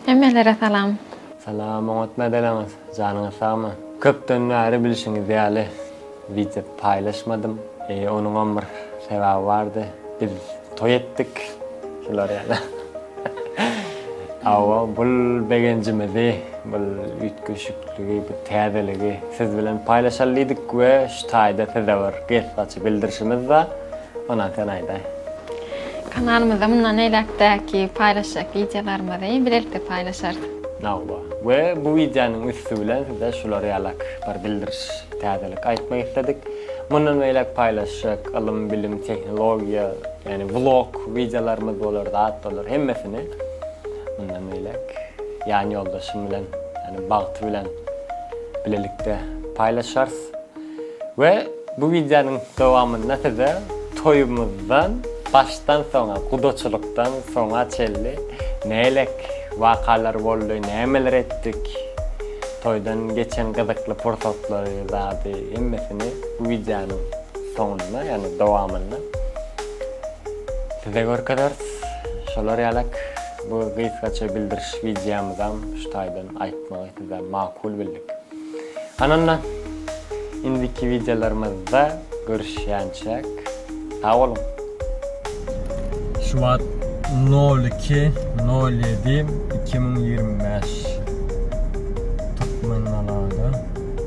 Hemmelere salam. Salam oňat nädeleňiz janyňyz sagmy. Köpden bäri bilşiňiz ýaly wideo paýlaşmadym. Onuňam bir sebäbi bardy. Biz toý etdik. Şular ýaly. Hawa bul begenjimizi bul üýtgeşikligi bu täzeligi siz bilen paýlaşaly diýdik we şu taýda size bir gysgaça bildirişimiz bar. Onam sen aýdaý. Kanalymyzda mundan beýläkdäki paýlaşjak wideolarymyzy bilelikde paýlaşarys. Hawa. We bu wideonyň üsti bilen size şular ýalak bir bildiriş, täzelik aýtmak isledik. Mundan beýläk paýlaşjak ylym, bilim, tehnologiýa, ýagny vlog wideolarymyz bolar, zat bolar, hemmesini mundan beýläk ýan ýoldaşym bilen, ýagny Bagty bilen bilelikde paýlaşarys. We bu wideonyň dowamynda size toýumyzdan başdan soňa, gudaçylykdan soňa çenli näleik wakalar boldy, nämeler etdik, toýdan geçen gyzykly pursatlary, zady hemmesini bu wideonyň soňunda, ýagny dowamynda size görkezeris. Şolar ýalak bu gysgaça bildiriş wideomyzam şu taýdan aýtmagy size makul bildik. Anna, indiki wideolarymyzda görüşýänçäk, sag boluň! Şu wagt nol iki nol ýedi iki müň ýigrimi bäş Türkmenalada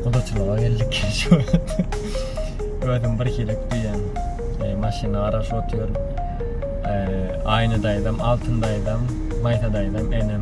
gudaçylyga geldik şu wagt özüm bir hili ökdüýän maşyny garaşyp otyryn Aýna daýzam Altyn daýzam Maýsa daýzam enem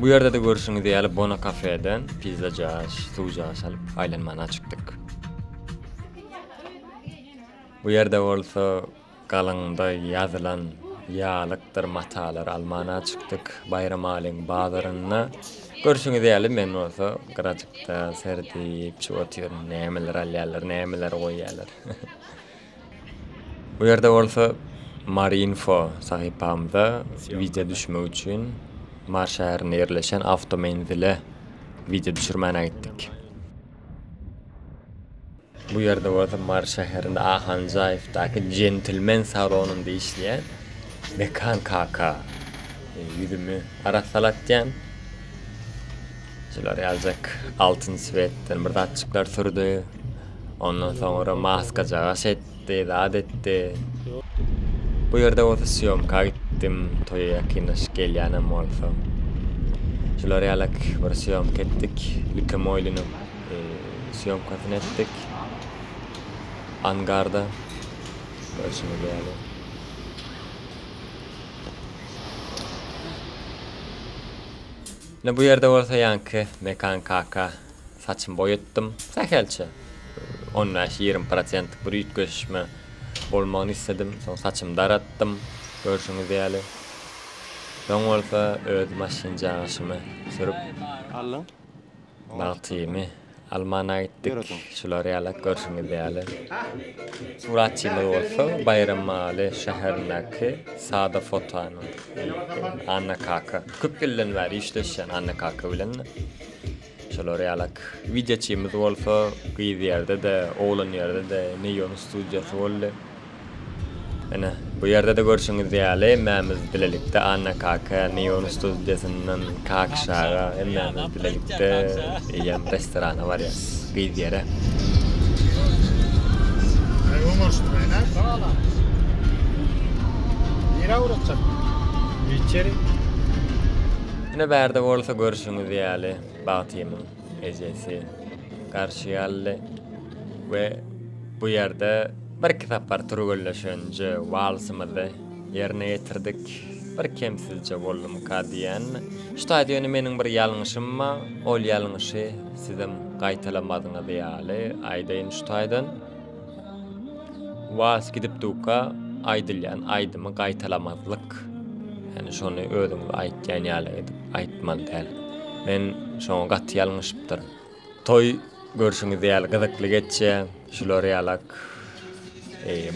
Bu ýerde-de görşüňiz ýaly Bona kafeden pizza jaş, suw jaş alyp, aýlanmana çykdyk. Bu ýerde bolsa galyňda ýazylan ýalykdyr matalary almana çykdyk, Baýramalyň bazarynda. Görşüňiz ýaly men bolsa gyrajykda serdip, çüwüp otyryn, nämeler alýarlar, nämeler goýýarlar. Bu ýerde bolsa Marinfo sahypamyza wideo düşürmek üçin Mary şäherinde ýerleşen awtomenzile wideo düşürmäne gitdik. Bu ýerde bolsa Mary şäherinde Ahanjaýewdaky Jentlmen salonynda işleýän Mekan kaka ýüzümi arassalatýan. Şular ýaljak altyn swetten bir zatjyklar sürdi. Ondan soňra maskajagaş etdi, zat etdi. Bu ýerde bolsa syýomka gitdim, toýa ýakynlaşyk gelýänem bolsa. Şular ýalak bir syýomka etdik. Lükemoýlynyň e, syýomkasyny etdik. Angarda. Görşüňiz ýaly. Ine bu ýerde bolsa ýaňky Mekan kaka saçymy boýatdym. Sähelçe on bäş, ýigrimi prosentlik bir üýtgeşme bolmagyny isledim. Soň saçymy daratdym, görşüňiz ýaly. Soň bolsa öz maşynjagaşymy sürüp, Allyň. bagtymy Almana gitdik. Şular ýalak görşüňiz ýaly. Suratçymyz bolsa Baýramaly şäherindäki Sada fotonyň Anna kaka. Köp ýyldan bäri işleşýän Anna kaka bilen. Şular ýalak. Wideoçymyz bolsa gyz ýerde-de, oglan ýerde-de Neýon studiýasy boldy. Ine, bu ýerde-de görşüňiz ýaly, hemmämiz bilelikde Anna kaka, Neon studiýasyndan Kakyş aga, hemmämiz bilelikde eýýäm restorana barýarys. Gyz ýere. Ine, bärde bolsa görşüňiz ýaly, Bagtymyň ejesi garşy aldy we bu ýerde Birki sapar türgenleşenje walsymyzy ýerine ýetirdik. Bir kemsizje boldumyka diýýänmi? Şu taýda ýöne meniň bir ýalňyşym bar, ol ýalňyşy sizem gaýtalamadyňyz ýaly aýdaýyn şu taýdan. Wals gidipdika aýdylýan aýdymy gaýtalamazlyk. Ýani şony özüňiz aýtýan ýaly edip aýtmaly däl. Men şoňa gaty ýalňyşypdyryn. Toý görşüňiz ýaly gyzykly geçýä. Şular ýalak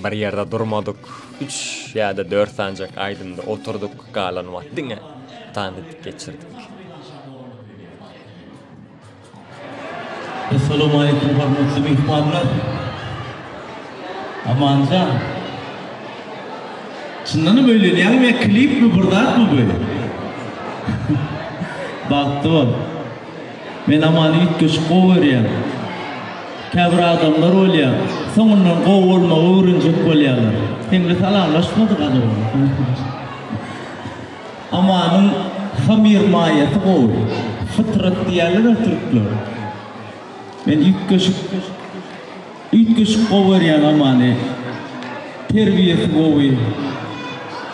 bir ýerde durmadyk. Üç ýa-da dört sanjak aýdymda oturdyk, galan wagt diňe tans edip geçirdik. Essalawmaleýkum hormatly myhmanlar. Amanjan. Çyndanam öýlenýäňmi ýa klipmi bir zatmy bu? Bagtly bol. Men amaly üýtgeşik gowy görýän. Käbir adamlar bolýar, soňundan gowy bolmagy öwrenjek bolýarlar. Heňli salamlaşmadyk azow. Amanyň hamyr maýasy gowy. Fytrat diýerler-ä türkler. Men üýtgeşik. Üýtgeşik gowy görýän Amany. Terbiýesi gowy.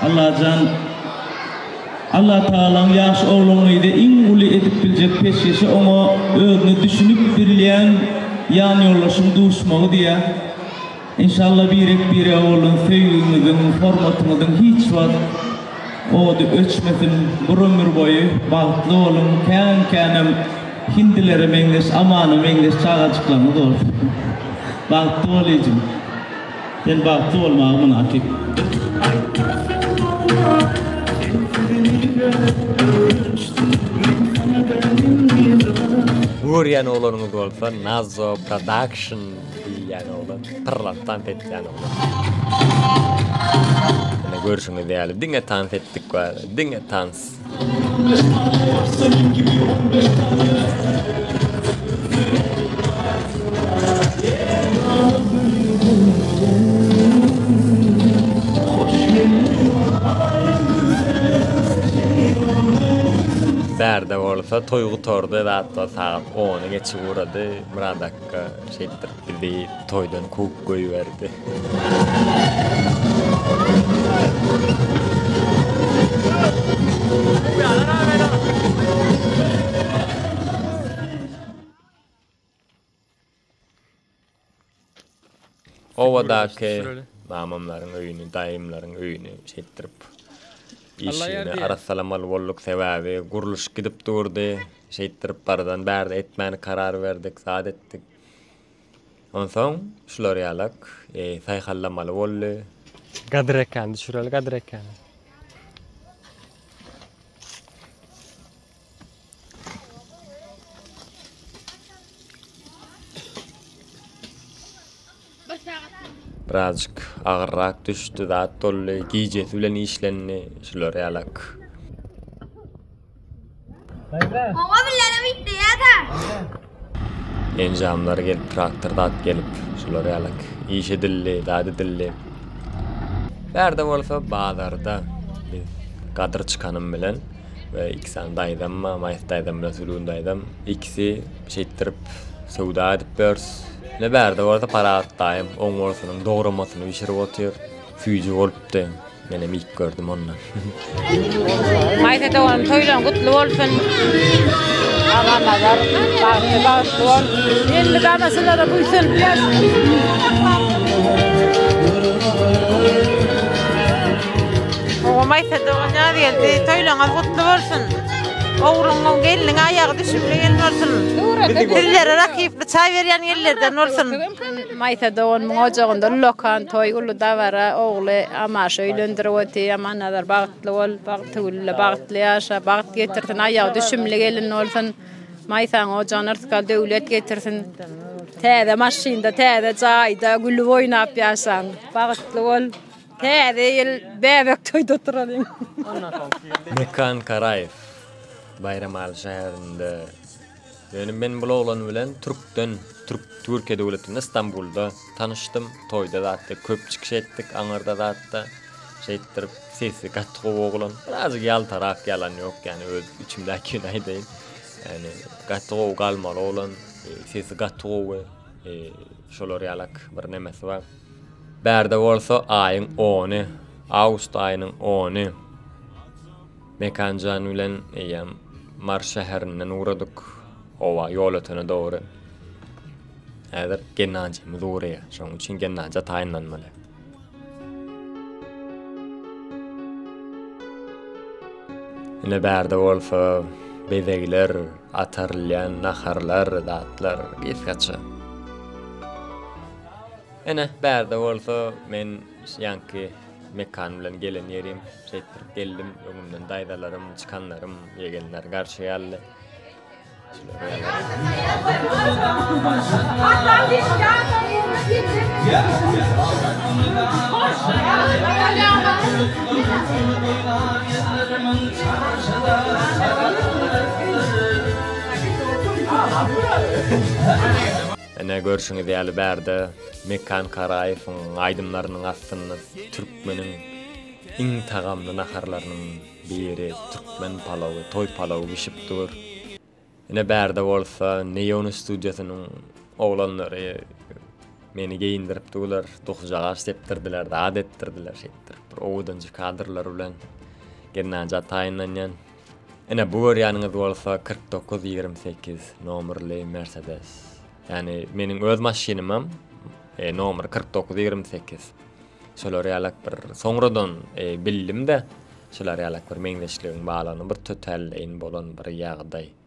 Allajan Allah Tagalaň ýaş oglangyzy iň uly edip biljek peşgeşi oňa özüne düşünip bilýän ýanýoldaşyň duşmagy diýä. Enşalla birek birege bolan söýgiňiziň, hormatyňyzyň hiç wagt Ody öçmesin bir ömür boýy bagtly boluň kän känem hindilere meňzeş amana meňzeş çagajyklaryňyz bolsun bagtly bol ejim sen bagtly bolmaga mynasyp. Görýän oglanyňyz bolsa Nazo production. Diýilýän oglan, pyrlan tans etýän oglan. Ine görşüňiz ýaly diňe tans etdik we diňe tans. Bärde bolsa toý gutardy, zat sagat ony geçip ugrady. Myrat Kaka şeýtdir bizi toýdan kowup goýberdi. Obadaky mamamlaryň öýüni, daýymlaryň öýüni şeýtdirip işini arassalamaly bolduk. Sebäbi gurluşyk gidip durdy. Şeýtdirip bardan bärde etmäni karar berdik, zat etdik. Onsoň şular ýalak saýhallamaly boldy. Gadyr ekeni düşüreli Gadyr ekeni. Birazjyk agyrrak düşdi, zat boldy. Gijesi bilen işlendi. Şular ýalak. Oňa bilenem ýitdi ýa-da. Enjamlar gelip, traktor zat gelip, şular ýalak. Iş edildi, zat edildi. Bärde bolsa bazarda biz Gadyr çykanym bilen we iki sany daýzam bar, Maýsa daýzam bilen Sülgün daýzam. Ikisi şeýtdirip söwda edip ýörüs. Ne bärde bolsa Parahat daýym oň bolsunyň dogramasyny bişirip otyr. Süýji bolupdy. Menem iýip gördüm onda. Maýsa doganym toýlaryň gutly bolsun. Agamalar bagtly bagtly bol. Elli gamasylara buýsun. Owa Maýsa dogan ýaz geldi. Toýlaryňyz gutly bolsun. Ogluňyň gelniň aýagy düşümli gelin bolsun. Sizlere rakyply çaý berýän ellerden bolsun. Maýsa doganynyň ojagynda ullakan toý, uly dabara, ogly Amaşy öýlendirip otyr. Amannazar bagtly bol, Bagtygülle bagtly ýaşa, bagt getirsin, aýagy düşümli gelin bolsun. Maýsaň ojagyna rysgal, döwlet getirsin. Täze maşynda, täze jaýda gülüp oýnap ýaşaň. Bagtly bol. Täze ýyl bäbek toýda oturalyň. Mekan Karaýew, Baýramaly şäherinde. Ýöne men bul oglan bilen türkden türk türkiýe döwletinde stambulda tanyşdym toýda zatda köp çykyş etdik aňyrda zatda şeýtdirip sesi gaty gowy oglan birazjyk ýaltarak ýalan ýok ýani öz içimdäkini aýdaýyn ýani gaty gowy galmaly oglan sesi gaty gowy şolar ýalak bir nemesi bar bärde bolsa aýyň ony awgust aýynyň ony Mekanjan bilen eýýäm Mars şäherinden ugradyk. Howa, ýol ötene dogry. Häzir Gennadimyz ugraýar. Şonuň üçin Gennadija taýynlanmaly. Ine bärde bolsa bezegler, atarylýan naharlar, zatlar gysgaça. Ine bärde bolsa men ýaňky Mekan bilen gelen ýerim şeýtdirip geldim. Öňümden daýzalarym, çykanlarym, ýegenler garşy aldy. Hoş Ine görşüňiz ýaly bärde Mekan Karaýewiň aýdymlarynyň astynda türkmeniň iň tagamly naharlarynyň biri türkmen palawy, toý palawy bişip dur. Ine bärde bolsa Neon studiýasynyň oglanlary meni geýindirip durlar, dokujagaç depdirdiler, zat etdirdiler şeýtdirip bir owadanjy kadrlar bilen Gennadiý Ataýyndanýan Ine bu görýäniňiz bolsa kyrk dokuz ýigrimi sekiz nomerli Mercedes. Ýani meniň öz maşynymam e, nomer kyrk dokuz ýigrimi sekiz. Şolar ýalak bir soňradan e, bildim-de, şolar ýalak bir meňzeşligiň barlygyny bir tötälleýin bolan bir ýagdaý.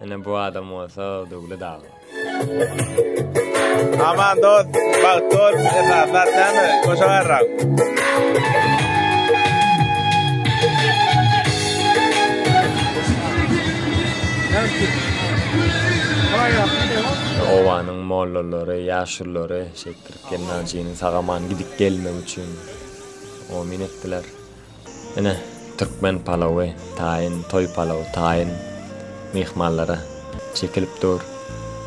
Ine bu adam bolsa Döwlet aga. Aman dost, bagt dost, esaslar täme, koşa garrak. Owanyň mollalary, ýaşulylary şeýtdirip gelnajynyň sagaman gidip gelmegi üçin omin etdiler. Ine, türkmen palawy, taýyn, toý palawy, taýyn myhmanlara çekilip dur.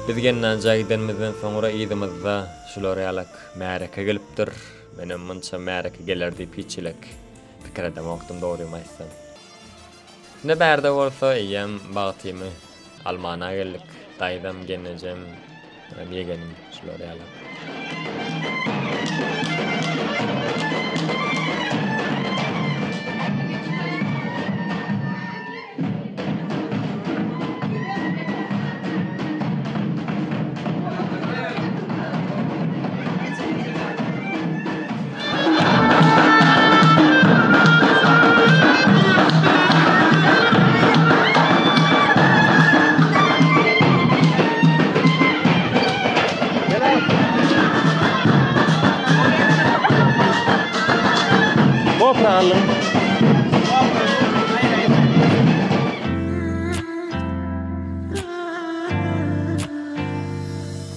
Biz Gennanjä gidenimizden soňra yzymyzda şular ýalak märeke gelipdir. Menem munça märeke geler diýip hiç-hilik pikir edemokdym, dogrymy aýtsam. Indi bärde bolsa eýýäm bagtymy almana geldik. Daýzam, gelnejem, ýegenim şular ýaly.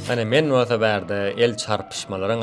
Mene men bolsa bärde el çarpyşmalaryň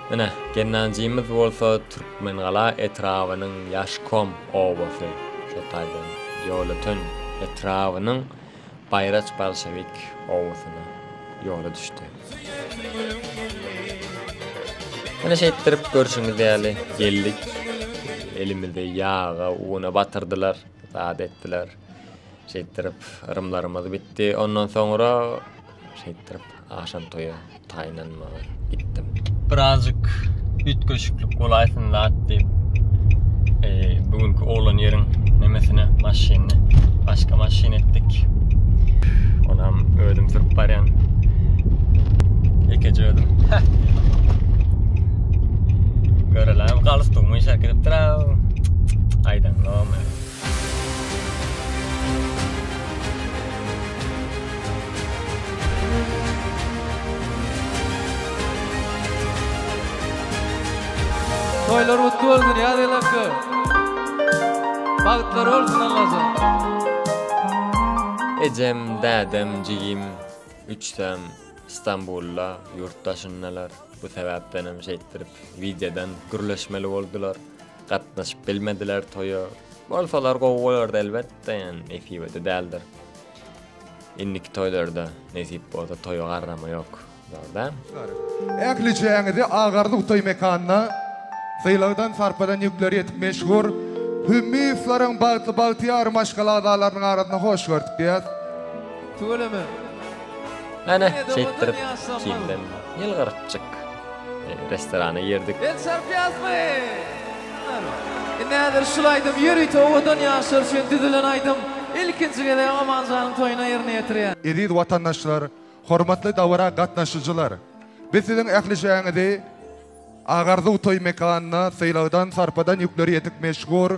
Ine, Gennanjymyz bolsa Türkmengala etrabynyň Ýaşkom obasy, şol taýdan Ýolöten etrabynyň Baýraç bolşewik obasyna ýola düşdi. Ine, şeýtdirip, görşüňiz ýaly, geldik. Elimizi ýaga, una batyrdylar, zat etdiler. Şeýtdirip, yrymlarymyz bitdi. Ondan soňra şeýtdirip, agşam toýa taýynlanmaga gitdim. Birazjyk üýtgeşiklik bolaýsyn zat diýip, bu günki oglan ýeriň nemesine, maşynyny başga maşyn etdik. Onam özüm sürüp barýan. Ekeje özüm. Görelem galyp durmuş herkepdir. Aýdan gowmy? Toýlar gutly bolsun Ýazel akga. Bagtlar bolsun Allajan. Ejem, dädem, jigim üçüsem Stambulda, ýurt daşyndalar. Bu sebäpdenem şeýtdirip wideodan gürleşmeli boldular. Gatnaşyp bilmediler toýa. Bolsalar gowy bolardy elbetde, ýani nesibede däldir. Indiki toýlarda nesip bolsa toýa garrama ýok. Dogryda? Ähli çäginizi Agarlyk toý mekanyna sylagdan sarpadan ýükleri ýetik meşhur Hümmiýewleriň bagtly bagtyýar maşgala agzalarynyň arasyna hoş gördük diýýäs. Tüweleme. Hany, şeýtdirip, kimden ýylgyrykjyk. Restorana girdik. Ben çarpýazmy? Näder şul aýdym ýörite owadan ýaşlar üçin düzülen aýdym. Ilkinji gezek Amanjanyň toýuna ýerine ýetirýän. Eziz watandaşlar, hormatly dabara gatnaşyjylar! Biz siziň ählijeňizi Agarzuw toý mekanyna sylagdan-sarpadan ýükleri ýetik meşhur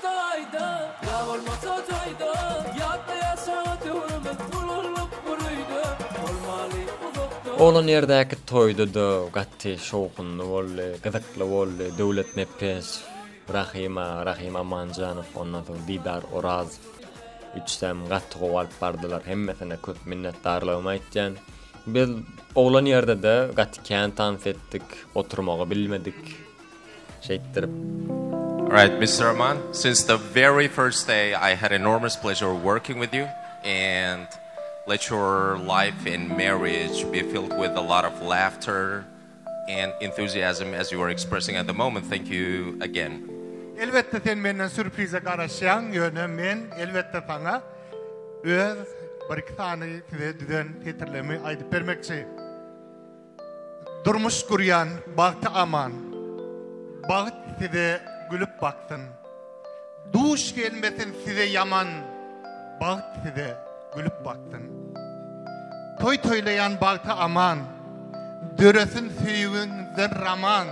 Taýda, ýa bolmasa jaýda, Ýatda ýaşaga töwrümiz Bulunlyk bir öýde, Bolmaly uzakda. Oglan ýerdäki toýda-da gaty şowhunly boldy, gyzykly boldy, Döwlet Nepesow, Rahym aga, Rahym Amanjanow, ondan soň Didar Orazow üçüsem gaty gowy alyp bardylar, hemmesine köp minnetdarlygymy aýtýan. Biz oglan ýerde-de gaty kän tans etdik, oturmagy bilmedik, Şeýtdirip. Alright Mister Rahman, since the very first day I had enormous pleasure working with you and let your life and marriage be filled with a lot of laughter and enthusiasm as you are expressing at the moment. Thank you again. Elbetde sen menden sürprize garaşýaň, ýöne men elbetde saňa öz bir-iki sany size düzen setirlerimi aýdyp bermekçi. Durmuş guryan bagty aman. Bagt size gülüp baksyn. Duş gelmesin size yaman. Bagt size gülüp baksyn. Toy toylayan bagty aman. Döresin söýügiňden raman.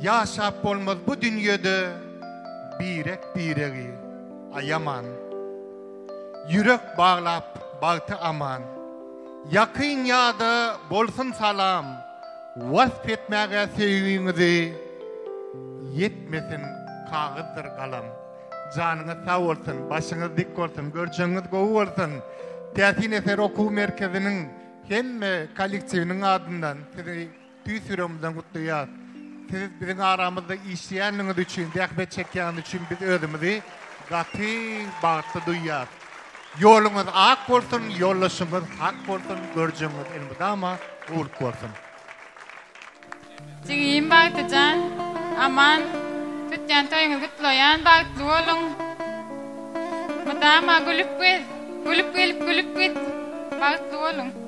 Ýaşap bolmaz bu dünýede birek-biregi aýaman, Ýürek baglap bagty aman, ýakyn ýada bolsun salam, Wasp etmäge söýgiňizi ýetmesin kagyzdyr galam. Janyňyz sag bolsun, başyňyz dik bolsun, görjegiňiz gowy bolsun! Täsin eser okuw merkeziniň hemme kollektiwiniň adyndan sizi Tüýs ýüregimizden gutlaýas. Siz biziň aramyzda işleýänligiňiz üçin, zähmet çekýäniňiz üçin biz özümizi gaty bagtly duýýas. Ýoluňyz ak bolsun, ýoldaşyňyz hak bolsun, görjegiňiz elmydama guwluk bolsun. Jigim Bagtyjan, Aman, tutýan toýuňyzy gutlaýan, bagtly boluň. Mydama gülüp gez, gülüp gelip gülüp git, bagtly boluň.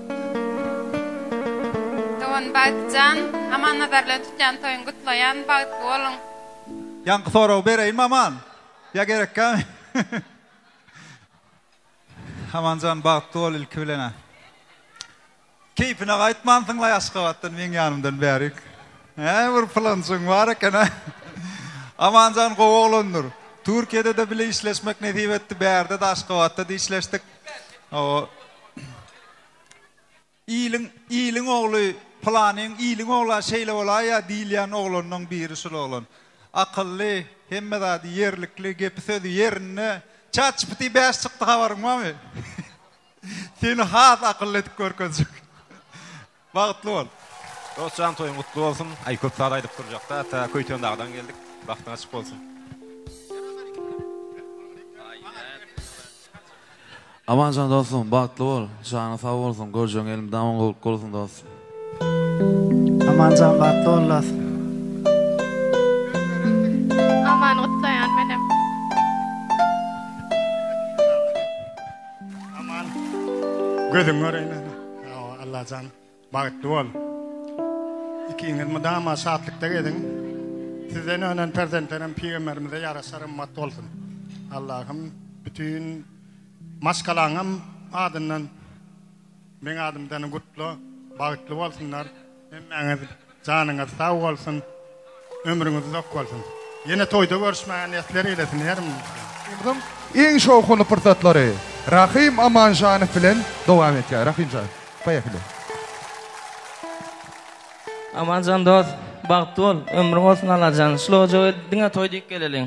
Dogan Bagtjan, Amannazar bilen tutýan toýuňy gutlaýan, bagtly boluň. Ýaňky soragy bereýinmi Aman? Ýa gerekkämi? Amanjan bagtly bol ilki bilen a. Keýpine gaýtmansyňlaý Aşgabatdan meň ýanymdan bärik. Hä bir pylanjygyň bar eken a. Amanjan gowy oglandyr. Türkiýede-de bile işleşmek nesip etdi, bärde-de Aşgabatda-da işleşdik. Hawa. Iliň, iliň ogly, pylanyň iliň ogla şeýle bolaýýa diýilýän oglanlaň biri şul oglan. Akylly, hemme zady ýerlikli, gepi sözi ýerinde. Chatgpt bäş çykdy habaryň barmy? Seni has akylly edip görkezjek. Bagtly bol. Dostjan toýuň gutly bolsun. Aý köp saz aýdyp durjakda ata Köýtendagdan geldik. Bagtyň açyk bolsun. Amanjan dostum bagtly bol janyň sag bolsun görjegiň elmydama gowluk bolsun dostum. Amanjan bagtly bol dostum. Amany gutlaýan menem. Aman. Gözün göreýin. Allajan bagtly bol. Ikiňiz mydama şatlykda gezin. Sizden önen perzentlerim pygamberimize ýaraşar ymmat bolsun. Allahym bütün maşgalaňam adyndan men adymdan gutla bagtly bolsunlar. Hemmäňiz janyňyz sag bolsun, ömrüňiz uzak bolsun. Ýene toýda görüşmäge nesler eýlesin herimize. Ýylyň iň şowhunly pursatlary Rahym Amanjanow bilen dowam etýär. Rahymjan, poýehili. Amanjan dos, bagtly bol, ömrüň bolsun Allajan, şul ojaga diňe toý diýip geleliň.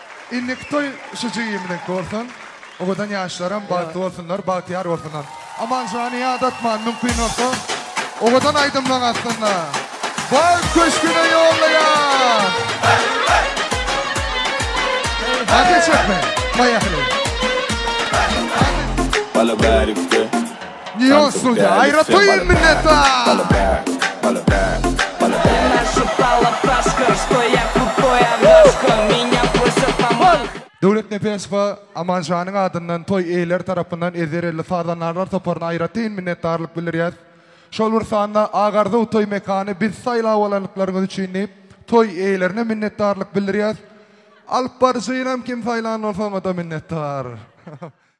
Indiki toý şu jigimiziňki bolsun. Owadan ýaşlaram bagtly bolsunlar, bagtyýar bolsunlar. Amanjany ýadatman, mümkin bolsa owadan aýdymlaň astynda. Bagt köşgüne ýollaýar! Ateş etme! Poýahli! Bala bärikde. Neon Studio, aýratyn minnetdar! Döwlet Nepesowa Amanjanyň adyndan toý eýeleri tarapyndan Ezerelli sazandarlar toparyna aýratyn minnetdarlyk bildirýäs. Şol bir sanda Ak Arzuw toý mekany bizi saýlap alandyklaryňyz üçin diýip, toý eýelerine minnetdarlyk bildirýäs. Alypbaryjynam kim saýlan bolsa oňa-da minnetdar.